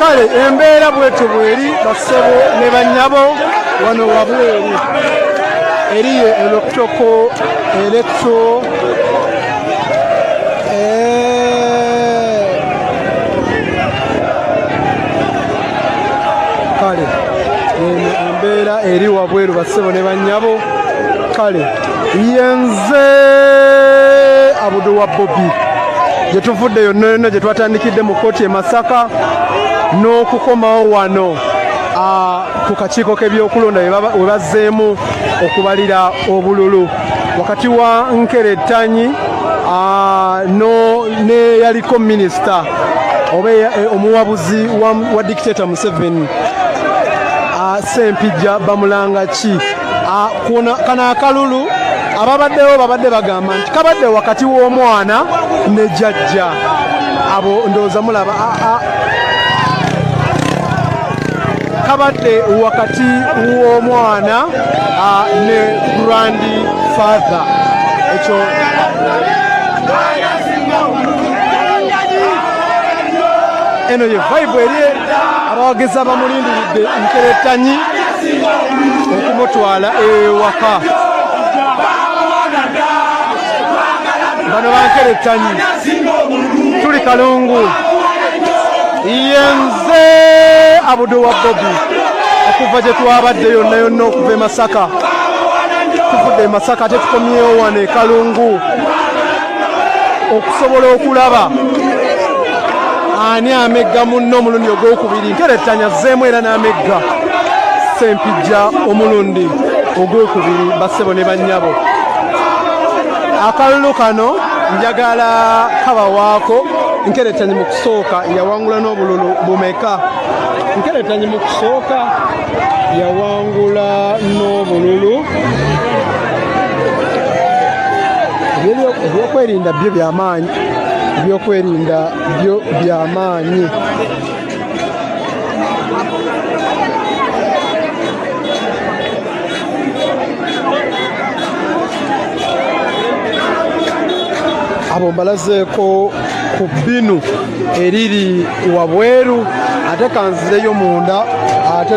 kale embeera bwetyo bweri bassebo ne bannyabo wano wabweru eriyo eloktoko elekto kale eno embeera eri wabweru bassebo ne bannyabo kale yenze abudu wa bobi gyetuvudde yonna yonna gye twatandikidde mu kkooti e masaka n'okukomawo wano ku kakiiko k'ebyokulonda we bazzeemu okubalira obululu wakati wa nkere ttanyi neyaliko minisita oba e, e, omuwabuzi wa dikiteta museveni sempijja bamulanga ki Ah, kuno kana akalulu ababaddewo babadde bagamba nti kabadde wakati w'omwana ne jajja abo ndowooza mulaba ah, ah. kabadde wakati w'omwana ne grand father ekyo eno ye vibe eri abawagizi abamulindiridde nkeretanyi okumutwala ewaka bano bankerettanyi tuli kalungu yenze abudo wa bobi okuva gye twabadde yonna yonna okuva e masaka tuvudde e masaka ate tukomyewo wano e kalungu okusobola okulaba ani amegga munno omulundi ogwokubiri nkerettanya zzeemu era n'amegga sempijja omulundi ogwokubiri bassebo ne bannyabo akalulu kano njagala kabawaako nkerettanya mu kusooka yawangula n'obululu bumeka nkerettanya mu kusooka yawangula n'obululu ebyokwerinda byo byamaanyi ebyokwerinda byo byamaanyi abo mbalazeeko ku bbinu eriri wabweru ate kanzireyo munda ate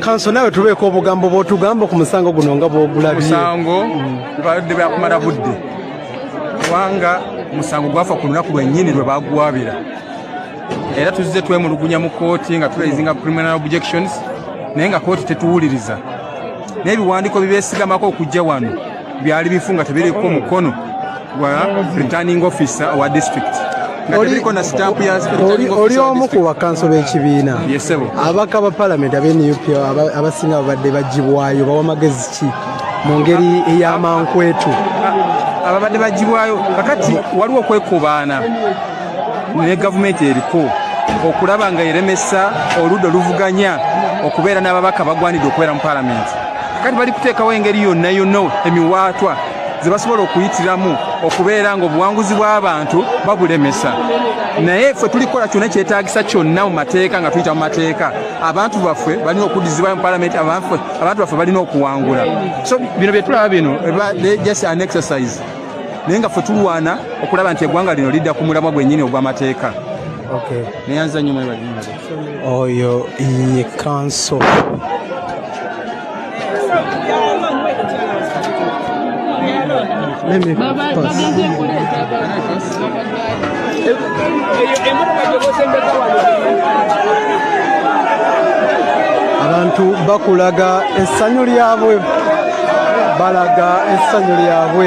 kanso nawe tubeeko obugambo bwotugamba ku musango guno nga bwogulabyemusango baludde byakumala budde kubanga musango gwafa ku lunaku lwennyini lwe bagwabira era tuzze twemulugunya mu kooti nga tulayizinga criminal objections naye nga kooti tetuwuliriza n'ebiwandiiko bibeesigamako okujja wano byali bifu nga tebiriko mukono gwa returning officer owa district oli omu ku bakanso b'ekibiina abaka ba palamenti abe nup abasinga babadde bagibwayo bawa magezi ki mu ngeri ey'amankwetu ababadde bagibwayo kakati waliwo okwekobaana ne gavumenti eriko okulaba nga eremesa oludda oluvuganya okubeera n'ababaka bagwanidde okubeera mu palamenti kati bali kuteekawo engeri yonna yonna emiwaatwa ze basobola okuyitiramu okubeera nga obuwanguzi bw'abantu babulemesa naye ffe tulikola kyona kyetagisa kyonna mu mateeka nga tuyita mu mateeka abantu baffe balina okuddizibwayo mu palamenti abantu baffe balina okuwangula so bino byetulaba bino just an exercise naye nga ffe tulwana okulaba nti eggwanga lino lidda ku mulamwa gwennyini ogw'amateeka neyanza nnyo mwebali oyo ye kanso Let me pass. abantu bakulaga essanyu lyabwe balaga essanyu lyabwe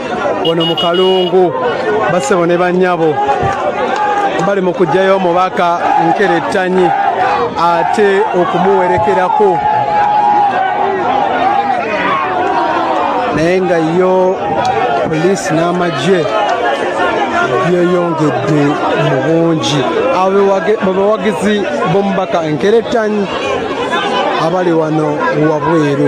wano mu kalungu basebo ne banyabo bali mu kujjayo omubaka nkerettanyi ate okumuwerekerako naye nga yo poliisi n'amagye byeyongedde mu bungi abawagizi b'omubaka enkerettanyi abali wano wabweru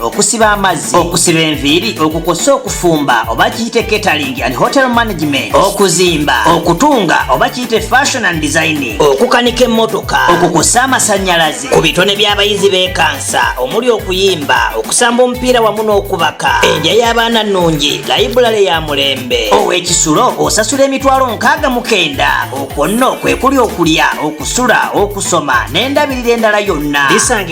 okusiba amazzi okusiba enviiri okukosa okufumba oba kiyite catering and hotel management okuzimba okutunga oba kiyite fashion and designing okukanika emmotoka okukosa amasanyalaze ku bitone by'abayizi bekansa omuli okuyimba okusamba omupiira wamu n'okubaka endya y'abaana nnungi layibulale ya mulembe ow'ekisulo osasula emitwalo nkaaga mukenda okwo nno kwe kuli okulya okusula okusoma n'endabirira endala yonna bisanga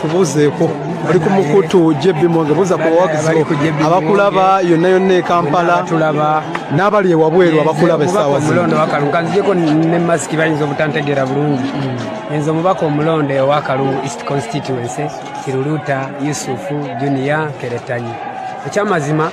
kubuuzeeko oli ku mukutu JB Mwenge buuza ku bawagizi abakulaba yonna yonna e Kampala n'abali ewabweru abakulaba essaawa omulonde wakalu kanzijeko ne masiki bayinza obutantegeera bulungi hmm. nze omubaka omulonde owakalu east constituency kiruluta yusufu junior keretanyi ekyamazima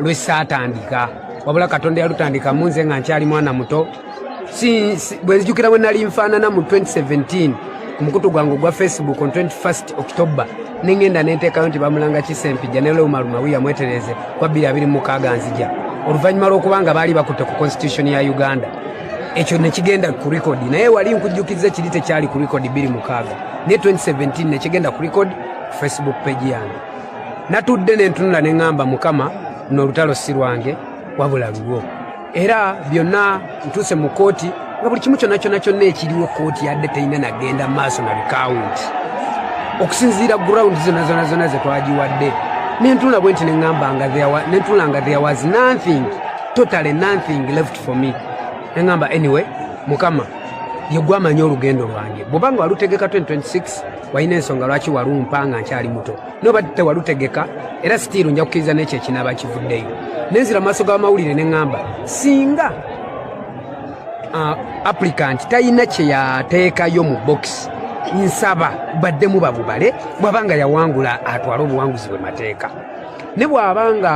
lwe saatandika wabula katonda yalutandika mu nze nga nkyali mwana muto bwe nzijukira bwe nali nfaanana mu 2017 ku mukutu gwange ogwa facebook on 21 october nengenda nenteekayo nti bamulanga kisempija ne leumalumawi yamwetereze kwa 226 nzija oluvannyuma lw'okuba nga baali bakutte ku constitution ya uganda ekyo nekigenda ku rekodi naye wali nkujjukiza kiri tekyali ku rekodi 26 naye 2017 nekigenda ku rekodi facebook page yange natudde nentunula ne ŋŋamba mukama no olutalo si lwange wabula lulwo era byonna ntuuse mu kooti nga buli kimu kyonna kyonna kyonna ekiriwo kooti yadde terina nagenda maaso na bikawunti okusinziira gurawundi zona zona zona ze twagiwadde nentunula bwe nti neŋŋamba nga nentunula nga there was nothing totally nothing left for me neŋŋamba anyway mukama yegwamanyi olugendo lwange bwobanga walutegeka 2026 walina ensonga lwaki walumpa nga nkyali muto noba tewalutegeka era sitiiru nja kukkiriza n'ekyo ekinaaba kivuddeyo nenzira mu maaso g'amawulire ne ŋŋamba singa uh, applicant talina kye yateekayo mu bokisi nsaba baddemu babubale bw'aba nga yawangula atwale obuwanguzi bwe mateeka ne bw'aba nga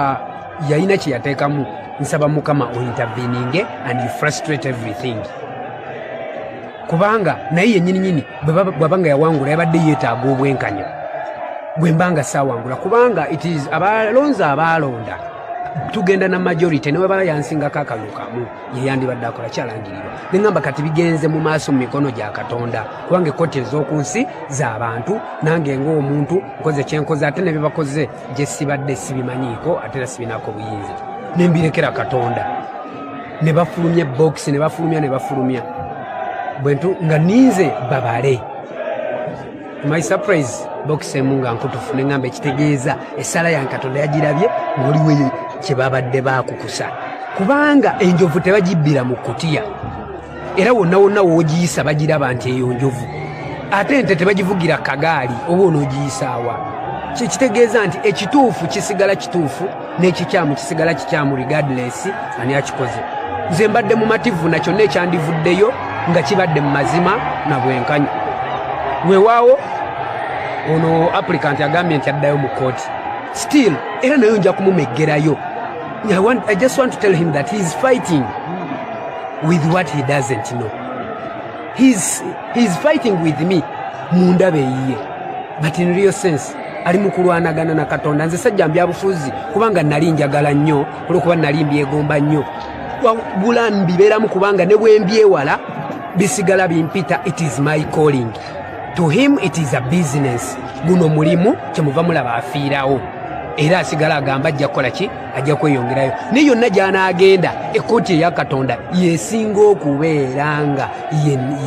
yalina kye yateekamu nsaba mukama ointerveninge and you frustrate everything kubanga naye yennyininyini bwaba nga yawangula yabadde yeetaaga obwenkanya bwe mba nga saawangula kubanga abalonzi abaalonda tugenda na majority ne webala yansingako akalulu kamu yeyandibadde akola kyalangirirwa ne ŋamba kati bigenze mu maaso mu mikono gya katonda kubanga ekkoti ez'oku nsi z'abantu nange ng'omuntu nkoze kyenkoze ate ne bye bakoze gye sibadde sibimanyiiko ate era sibinaako buyinza ne mbirekera katonda ne bafulumya ebbokisi ne bafulumya ne bafulumya bwentu nga ninze babale my surprise bokisi emu nga nkutufu ne ŋŋamba ekitegeeza essaala ya katonda yagirabye ng'oliweyo kye babadde baakukusa kubanga enjovu tebagibbira mu kutiya era wonna wonna wogiyisa bagiraba nti eyo njovu ate nte tebagivugira kagaali oba onoogiyisaawa kyekitegeeza nti ekituufu kisigala kituufu n'ekikyamu kisigala kikyamu regardless ani akikoze nze mbadde mumativu na kyonna ekyandivuddeyo nga kibadde mu mazima na bwenkanya wewaawo ono applicant agambye nti addayo mu kooti still era nayo nja kumumeggerayo I, want, I just want to tell him that he is fighting with what he doesn't know. He is, he is fighting with me munda beyiye but in real sense ali mu kulwanagana na katonda nze sajja mbyabufuzi kubanga nali njagala nnyo olwokuba nali mbyegomba nnyo wagula mbibeeramu kubanga ne bwembyewala bisigala bimpita it is my calling to him it is a business guno mulimu kyemuva mulaba afiirawo era asigala agamba ajja kukola ki ajja kweyongerayo naye yonna gyanaagenda ekkooti eya katonda yesinga okubeera nga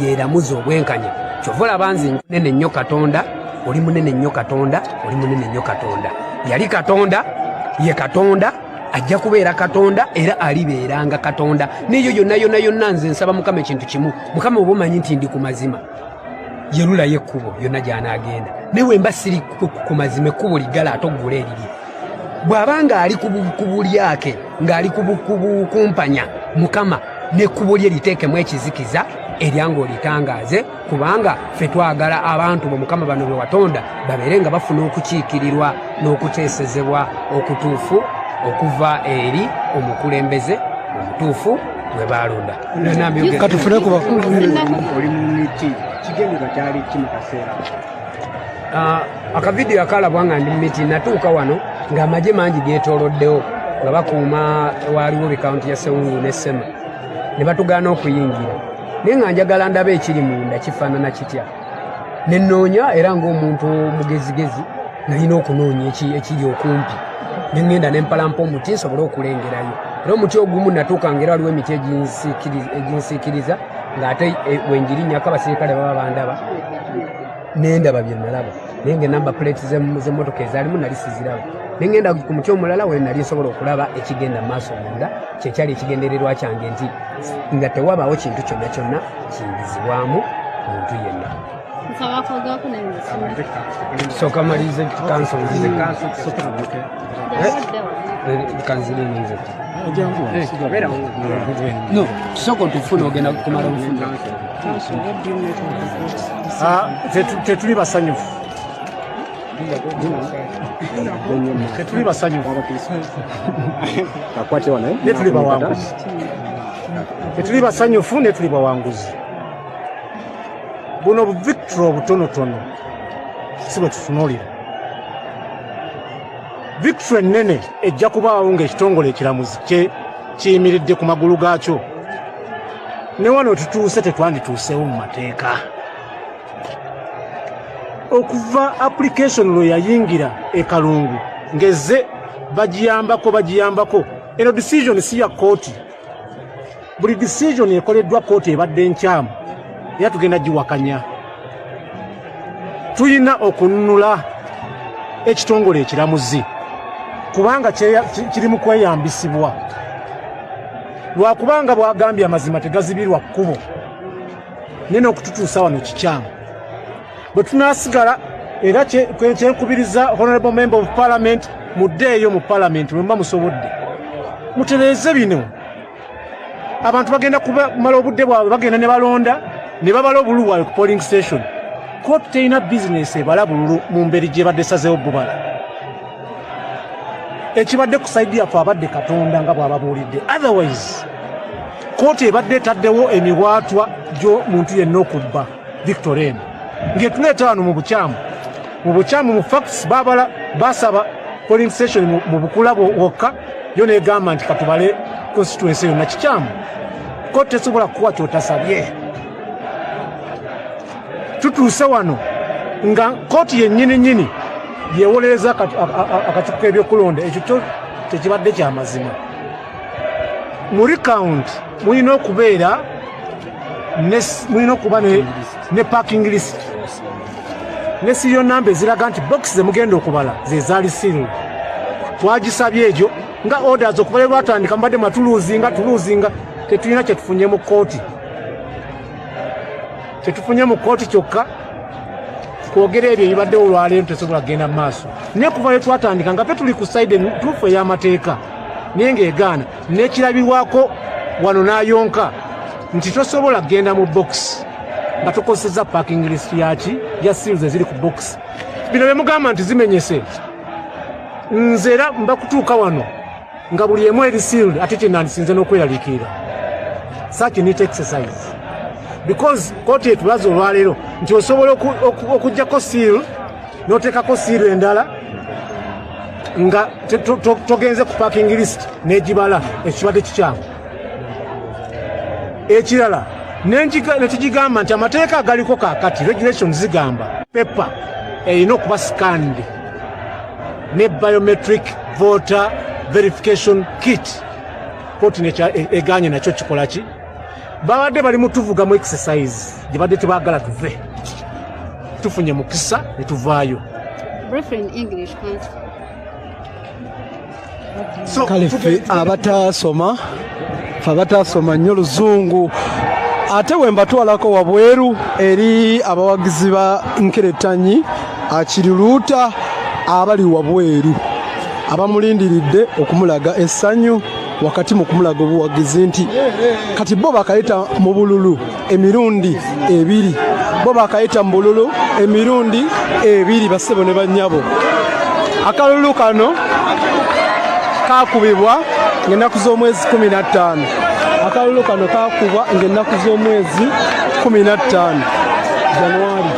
yeramuza obwenkanya kyova olaba nze nene nnyo katonda oli munene nnyo katonda oli munene nnyo katonda yali katonda ye katonda ajja kubeera katonda era alibeeranga katonda neyo yonna yonna yonna nze nsaba mukama ekintu kimu mukama oba omanyi nti ndi ku mazima yerulayo ekkubo yonna gy'anaagenda naye wemba siri ku mazima ekkubo liggala ate oggula erirye bw'aba ng'ali ku bulyake ng'ali kubukumpanya mukama n'ekkubo lye liteekemu ekizikiza eryanga olitangaaze kubanga ffe twagala abantu bo mukama bano be watonda babeere nga bafuna okukiikirirwa n'okuteesezebwa okutuufu okuva eri omukulembeze omutuufu gwe baalonda katufune ku bakulu oli mu miti kigendero kyali ki mu kaseera ah, akavidiyo akalabwa nga ndi mu miti natuuka wano ng'amagye mangi geetooloddewo nga bakuuma waaliwo bikawunti ya sewungu ne sema ne batugaana okuyingira naye nga njagala ndaba ekiri munda kifaanana kitya nenoonya era ng'omuntu omugezigezi nalina okunoonya ekiri okumpi nengenda nempalampa omuti nsobole okulengerayo era omuti ogumu natuuka ngaera waliwo emiti eginsiikiriza ng'ate e, wengirinyako abasirikale baba bandaba nendaba byenalaba naye nga enamba plate zemotoka ezalimu nali siziraba nengenda ku muti omulala wenali nsobola okulaba ekigenda maaso munda kyekyali ekigendererwa kyange nti nga tewabaawo kintu kyonna kyonna kiyingizibwamu muntu yenna soka malize kansonsoka otufuna ogenda kumala bufuna ah, tetuli basanyufu tetuli basanyufu netuli bawanguzi tetuli basanyufu netuli bawanguzi buno victory obutonotono si bwe tutunuulira victory ennene ejja kubaawo ng'ekitongole ekiramuzi kye kiyimiridde ku magulu gaakyo ne wano tutuuse tetwandituuseewo mu mateeka okuva application lwe yayingira ekalungu ngeze bagiyambako bagiyambako eno decision si ya kooti buli decision ekoleddwa kooti ebadde nkyamu era tugenda giwakanya tulina okununula ekitongole ekiramuzi kubanga kiri mu kweyambisibwa lwakubanga bwagambye amazima tegazibirwa kkubo naye n'okututuusa wano kikyamu bwe tunaasigala era kyenkubiriza honorable member of parliament muddeeyo mu parliament mwemuba musobodde mutereeze bino abantu bagenda kumala obudde bwabwe bagenda ne balonda ne babala obululu bwabwe ku polling station kooti terina bizinesi ebala bululu mu mberi gyebadde sazeewo bubala ekibadde ku saidi yaffe abadde katonda nga bw'ababuulidde otherwise Kkooti ebadde etaddewo emibwatwa gy'omuntu yenna okubba Victor eno ng'etula etaano mu bukyamu mu bukyamu mu facts babala basaba polling station mu bukula wokka yo negamba nti katubale constituency yonna kikyamu ko tesobola kukuwa kyotasabye tutuuse wano nga kooti yennyini nyini yewolereza akakiku k'ebyokulonda ekyo kyo tekibadde kyamazima mu recount mulina okubeera mulina okuba ne parking list ne siyo namba eziraga nti box zemugenda okubala zezaali siru twagisabye egyo nga orders okubala lwatandika mubadde matuluzinga tuluzinga tetulina kyetufunye mu kooti kyetufunye mu kooti kyokka kwogera ebyo ebibaddewo olwaleero tesobola kugenda mu maaso naye kuva lwe twatandika nga fe tuli ku side entuufu ey'amateeka naye ng'egaana n'ekirabirwako wano n'ayonka nti tosobola kugenda mu bokisi nga tukozeseza parking list yaki ya seals eziri ku box bino bemugamba nti zimenyese nze era mba kutuuka wano nga buli emu eri sealed ate kyenandisinze n'okweraliikirira such neat exercise because kooti etulaze olwaleero nti osobola okujjako seal n'oteekako seal endala nga togenze ku parking list negibala ekibadde kikyamu ekirala nekigigamba nti amateeka agaliko kakati regulation zigamba pepa erina okuba sikandi ne biometric voter verification kit koti e, eganye nakyo kikolaki babadde bali mutuvuga mu exercise gye badde tebagala tuve tufunye mukisa ne tuvaayo kale ffe abataasoma fe abataasoma nnyo luzungu ate we mbatwalako wabweru eri abawagizi ba nkeretanyi akiriruuta abali wabweru abamulindiridde okumulaga essanyu wakati mu kumulaga obuwagizi nti kati bo bakayita mu bululu emirundi ebiri bo bakayita mu bululu emirundi ebiri bassebo ne bannyabo akalulu kano kakubibwa ng'ennaku z'omwezi kumi na ttaano akalulu kano kakubwa ng'ennaku z'omwezi kumi na ttaano januari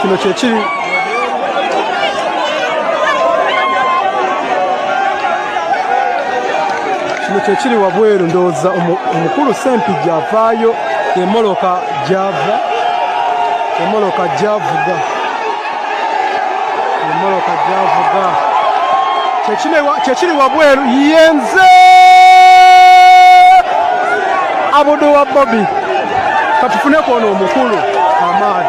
kino kyekiri kino kyekiri wabweru ndowooza omukulu sempijja avaayo emoloka gyava emoloka gyavuga emoloka gyavuga kyekiri wabweru yenze abudu wa bobi katufuneko ono omukulu amaani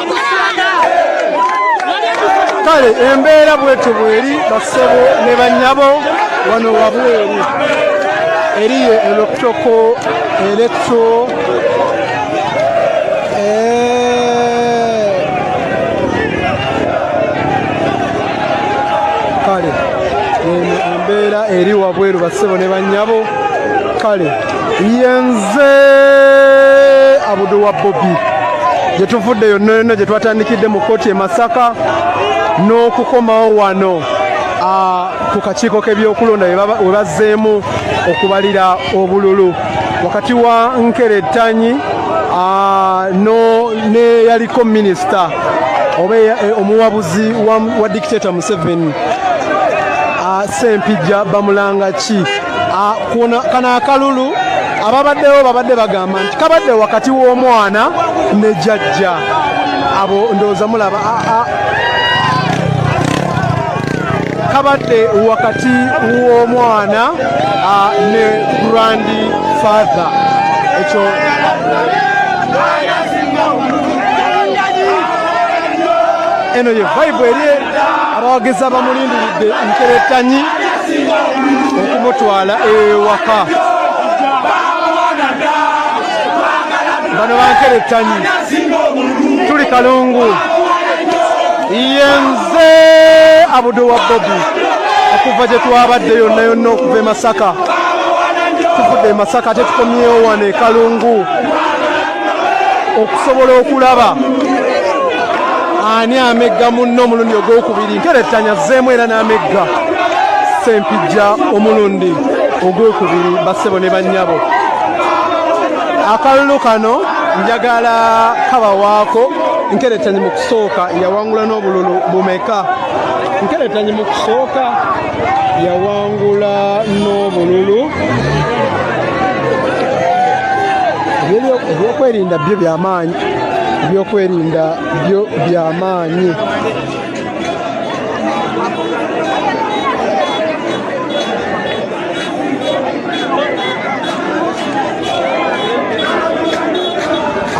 kale embeera bwetyo bweri basebo ne banyabo wano wabweru eriyo eloktoko eletso kale eno embeera eri wabweru basebo ne banyabo kale yenze abudu wa bobi gyetuvudde yonna yonna gye twatandikidde mu kkooti e masaka n'okukomawo wano ku kakiiko k'ebyokulonda we bazzeemu okubalira obululu wakati wa nkerettanyi neyaliko minisita oba e, e, omuwabuzi wa dikiteta museveni sempijja bamulanga kano akalulu ababaddewo babadde bagamba nti kabadde wakati w'omwana ne jajja abo ndowooza mulaba kabadde wakati w'omwana ah, ne grand father ekyo eno ye vibe eri abawagizi abamulindiridde nkerettanyi okumutwala ewaka bano bankere ettanyi tuli kalungu yenze abudo wa bobi okuva gye twabadde yonna yonna okuva e masaka tuvudde e masaka ate tukomyewo wano e kalungu okusobola okulaba ani amegga munno omulundi ogwokubiri nkerettanya zzeemu era n'amegga sempijja omulundi ogwokubiri bassebo ne bannyabo akalulu kano njagala kabawaako nkerettanye mu kusooka yawangula n'obululu bumeka nkerettanye mu kusooka yawangula n'obululu ebyokwerinda byo byamaanyi ebyokwerinda byo byamaanyi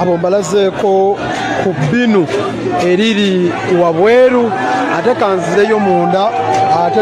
abo mbalazeeko ku binu eriri wabweru ate kanzireyo munda ate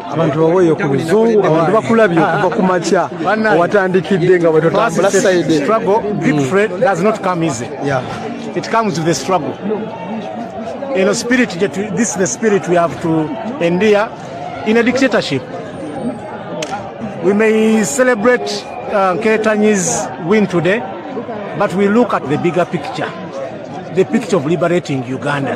abantu baweeyo ku luzungu abantu bakulabye okuva ku makya owatandikidde nga bwetotambula saidi it comes with a struggle you know spirit this is the spirit we have to endure in a dictatorship we may celebrate uh, Ketanyi's win today but we look at the bigger picture the picture of liberating Uganda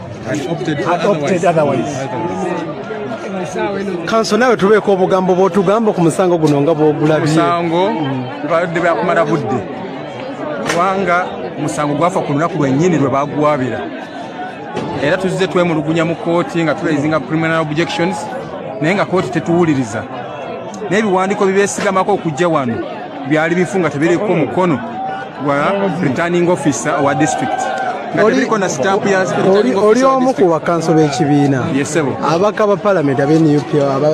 kanso nawe tubeeko obugambo bwotugamba ku musango guno nga bwogulabyemusango bibadde byakumala budde kubanga musango gwafa ku lunaku lwennyini lwe bagwabira era tuzze twemulugunya mu kooti nga turezinga criminal objections naye nga kooti tetuwuliriza n'ebiwandiiko bibeesigamako okujja wano byali bifu nga tebiriko mukono gwa returning officer owa district oli omu ku bakanso b'ekibiina abaka ba palamenti abenup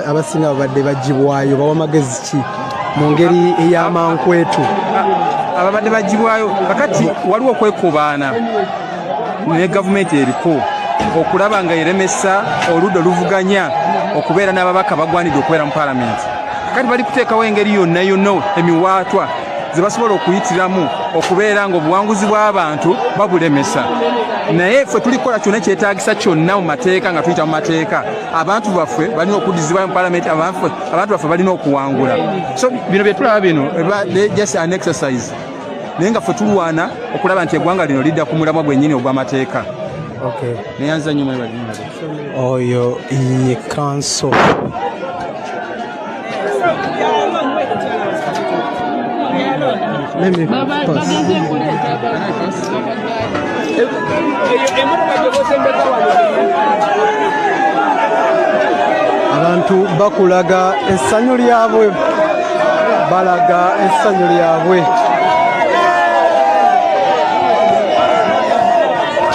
abasinga babadde bagibwayo bawa magezi ki mu ngeri ey'amankwetu ababadde bagibwayo kakati waliwo okwekobaana ne gavumenti eriko okulaba nga eremesa oludda oluvuganya okubeera n'ababaka bagwanidde okubeera mu palamenti kati bali kuteekawo engeri yonna yonna emiwaatwa ze basobola okuyitiramu okubeera ng'obuwanguzi bw'abantu babulemesa naye ffe tuli kukola kyonna kyetaagisa kyonna mu mateeka nga tuyita mu mateeka abantu baffe balina okuddizibwayo mu palamenti abantu baffe balina okuwangula so bino bye tulaba bino just an exercise naye nga ffe tulwana okulaba nti eggwanga lino lidda ku mulamwa gwennyini ogw'amateeka neyanza nnyo mwebali oyo ye kanso Let me abantu bakulaga essanyu lyabwe balaga essanyu lyabwe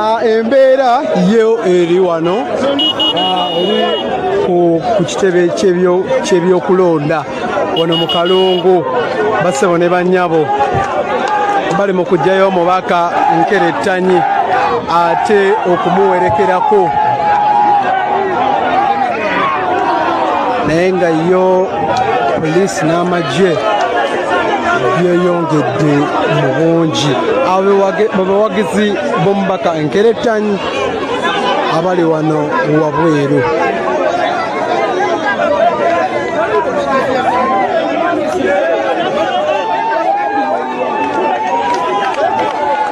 Ah, embeera ye eri wano ah, ku kitebe ky'ebyokulonda wano mu kalungu basebo ne banyabo bali mu kugyayo omubaka nkerettanyi ate okumuwerekerako naye nga yo poliisi n'amagye yeyongedde mu bungi abawagizi b'omubaka enkeretanyi abali wano wabweru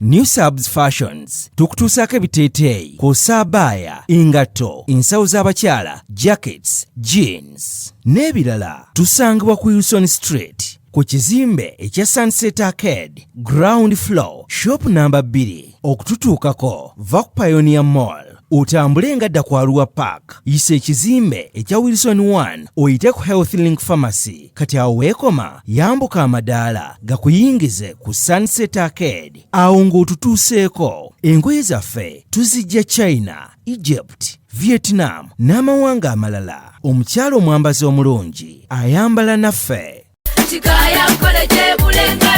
New Subs Fashions tukutuusaako ebiteeteeyi kw'ossa abaaya engatto ensawo z'abakyala jackets jeans n'ebirala tusangibwa ku Wilson Street ku kizimbe ekya Sunset Arcade ground floor shop namba 2 okututuukako va ku Pioneer Mall otambule nga dda ku Arua Park yisa ekizimbe ekya Wilson 1 oyite ku Health Link Pharmacy kati awo weekoma yambuka amadaala gakuyingize ku Sunset Arcade awo ng'otutuuseeko engoye zaffe tuzijja China Egypt, Vietnam n'amawanga amalala omukyala omwambazi omulungi ayambala naffe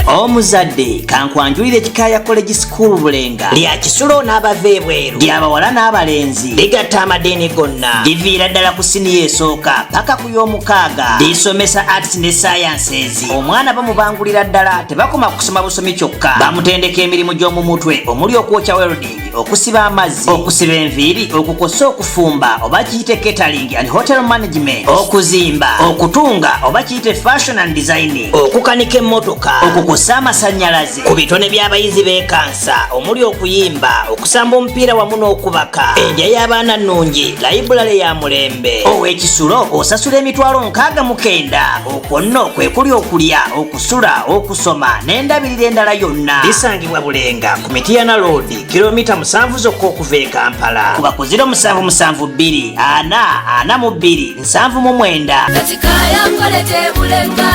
omuzadde kankwanjulira ekikaaya college school bulenga lya kisulo n'abava ebweru lyabawala n'abalenzi ligatta amadiini gonna liviira ddala ku siniya esooka paka ku y'omukaaga lisomesa arts ne sciences omwana bamubangulira ddala tebakoma kusoma busomi kyokka bamutendeka emirimu gy'omu mutwe omuli okwokya welding okusiba amazzi okusiba enviiri okukosa okufumba oba kiyite catering and hotel management okuzimba okutunga oba kiyite fashion and designing okukanika emmotoka okukosa amasanyalaze ku bitone by'abayizi bekansa omuli okuyimba okusamba omupiira wamu n'okubaka endya y'abaana nnungi layibulale ya mulembe ow'ekisulo osasula emitwalo nkaaga mukenda okwo nno kwe kuli okulya sula okusoma n'endabirira endala yonna bisangibwa bulenga ku mitiyana loodi kilomita musanvu zokka okuva e kampala kuba ku 0772 ana ana mu bbiri nsanvu mu mwenda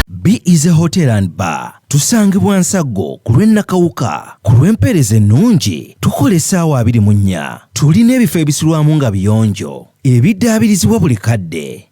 be is a hotel and bar tusangibwa nsaggo ku lw'ennakawuka ku lw'empeereza ennungi tukola essaawa abiri mu nnya tulina ebifo ebisulwamu nga biyonjo ebiddaabirizibwa buli kadde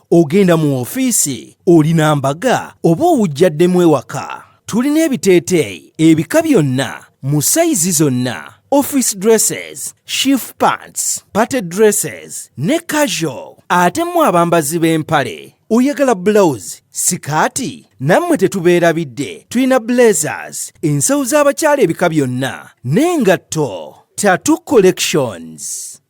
ogenda mu ofiisi olina mbaga oba owujjaddemu ewaka tulina ebiteeteeyi ebika byonna mu sayizi zonna office dresses shift pants party dresses ne casual ate mu abambazi b'empale oyagala bulawuzi sikaati nammwe tetubeerabidde tulina blazers ensawo z'abakyala ebika byonna n'engatto tatu collections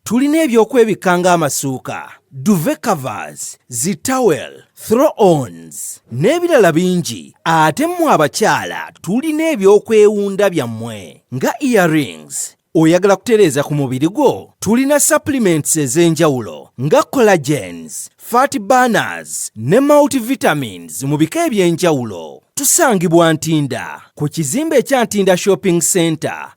Tulina ebyokwebikka ng'amasuuka, duve covers, zi towel, throw ons n'ebirala bingi ate mmwe abakyala tulina ebyokwewunda byammwe nga earrings, oyagala kutereeza ku mubiri gwo tulina supplements ez'enjawulo nga collagens fat burners ne multivitamines mu bika eby'enjawulo tusangibwa ntinda ku kizimbe ekya ntinda shopping center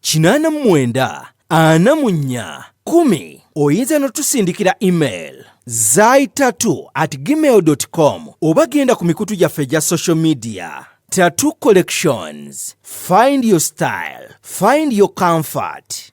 kinaana mu mwenda ana mu nnya kumi oyinza notusindikira email zaitatu at gmail com oba genda ku mikutu gyaffe egya social media tattoo collections find your style find your comfort